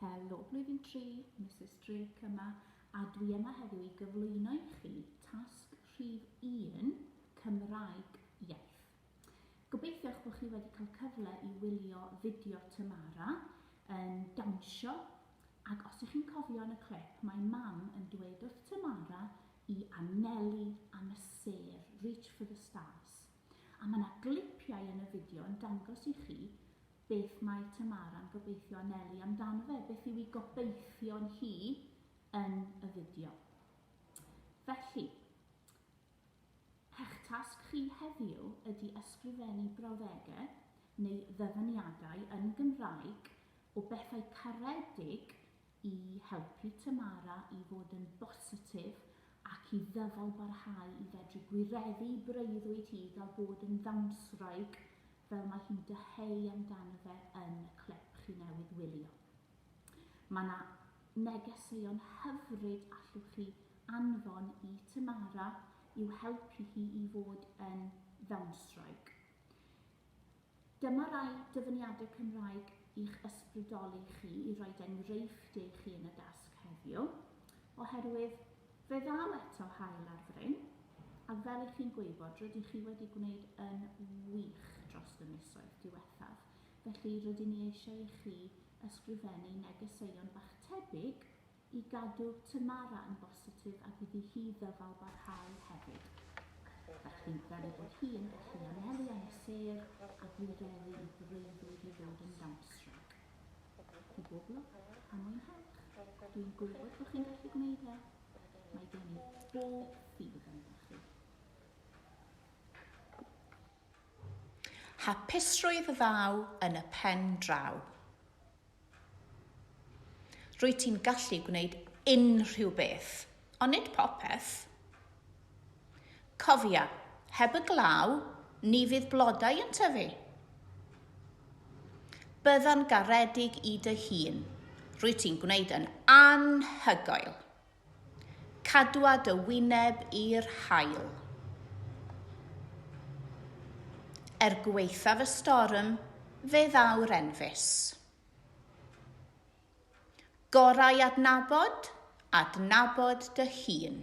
Helo, blwyddyn 3, Mrs Drake yma, a dwi yma heddiw i gyflwyno i chi tasg rhif 1, Cymraeg iaith. Gobeithio eich bod chi wedi cael cyfle i wylio fideo Tamara yn dawnsio, ac os ych chi'n cofio yn y clip, mae mam yn dweud wrth Tamara i anelu am y sêr Reach for the Stars, a mae 'na glipiau yn y fideo yn dangos i chi beth mae Tamara'n gobeithio anelu amdano fe, beth yw i gobeithion hi yn y fideo. Felly, eich tasg chi heddiw ydy ysgrifennu brawddegau neu ddyfyniadau yn Gymraeg o bethau caredig i helpu Tamara i fod yn bositif ac i ddyfalbarhau i fedru gwireddu breuddwyd hi fel bod yn ddawnswraig fel mae hi'n dyheu amdano fe yn y clip chi newydd wylio. Mae 'na negeseuon hyfryd allwch chi anfon i Tamara i'w helpu hi i fod yn ddawnswraig. Dyma rai dyfyniadau Cymraeg i'ch ysbrydoli chi i roid enghreifftiau i chi yn y dasg heddiw, oherwydd fe ddaw eto haul ar fryn, a fel i chi'n gwybod, rydych chi wedi gwneud yn wych dros y misoedd diwethaf, felly rydyn ni eisiau i chi ysgrifennu negeseuon bach tebyg I gadw Tamara yn bositif ac iddi hi ddyfalbarhau hefyd. Dach chi'n gweld fod hi yn gallu anelu am y sêr a gwireddu i freuddwyd i fod yn Dumpstrike. I bob lwc a mwynhewch. Dwi'n gwybod bod chi'n gallu gwneud e. Mae gen i bob ffydd ynddoch chi. Hapusrwydd ddaw yn y pen draw. Rwyt ti'n gallu gwneud unrhyw beth, ond nid popeth. Cofia, heb y glaw, ni fydd blodau yn tyfu. Bydda'n garedig i dy hun. Rwyt ti'n gwneud yn anhygoel. Cadwa dy wyneb i'r haul. Er gwaethaf y storm, fe ddaw'r enfys. Gorau adnabod, adnabod dy hun.